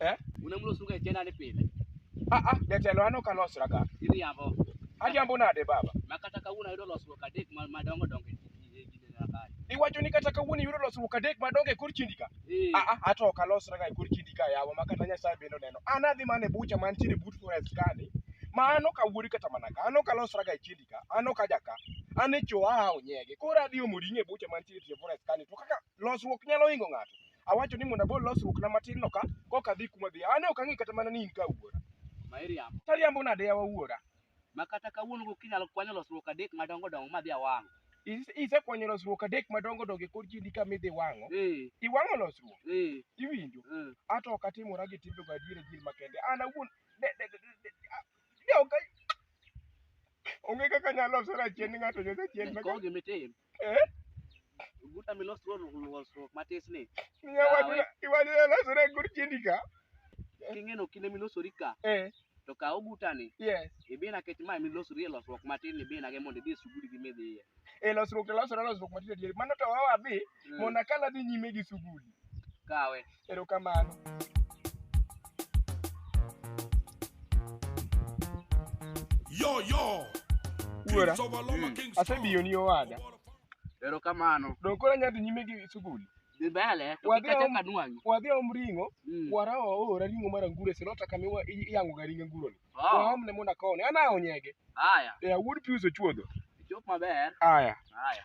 Eh? Unamlo suga chena ni pile. Ah ah, jatelo an ok alosra ga. Iriambo. Ariambo nade baba? Ma kata kawuono ayudo losruok adek ma- madongo dongo e e kinde na kae. Iwacho ni kata kawuono iyudo losruok adek madongo e kor chindi ka. Eh, Ah ah, ato ok alosra ga e kor chindi ka yawa ma kata Nyasaye bende oneno. An adhi mana e bucha mantiere but forest kani. Ma an ok awuori kata mana ka. An ok alosra ga e chindi ka. An ok aja ka. An e cho a onyege. Koro adhi omo ring'o e bucha mantiere tie forest kani. To kaka Losruok nyalo hingo ng'ato. Awacho ni mondo agol losruokna matin no ka koka adhi kuma adhiye. An ok ang'e kata mana ni in ka wuora. Ma iriambo. To ariambo nade yawa wuora? Ma kata kawuono gokinyi inyalo kwanyo losruok adek madongo dongo madhi awang'. Is- Isekwanyo losruok adek madongo dongo e kor kindi kama idhi wang'o. Eh, Iwang'o losruok. eh, Iwinjo? eh. Ato ok atimora gi timbe go adier adier makende. An awuon de de de de- de- a- de ok a- Onge kaka nyalo losora chien ni ng'ato nyosa chien Iko makende. gimitim. Eh? Guta milos ruo ruo ruo matis ni. Miya watu Awe. iwani elosore gur chindi ka. King'eno kinde milosori ka Eh, to kaw gutani yes. ibina kech ma milosori e losruok matin ibina ge mondo idhi e suguri gi midhiye. E losruok to losore losruok matindo tindo. Mano to wawa dhi mona kala dhi nyime gi suguli. Kawe. Erokamano. Yo yo. Wuora. Mm. Asebiyo ni owada. Erokamano. Donge koro anyalo dhi nyime gi sugul? Dhi mbele. To kik achak anwang'i. Wadhi om ring'o. Mm. Wara oora ring'o mar anguro e silota kama iwa- i- iyang'oga ring anguroni. Oh. Waomne mondo akowne. An ahawo nyege. Haya. Eh, wuod Pius ochuodho. Chop maber. Aya. Haya.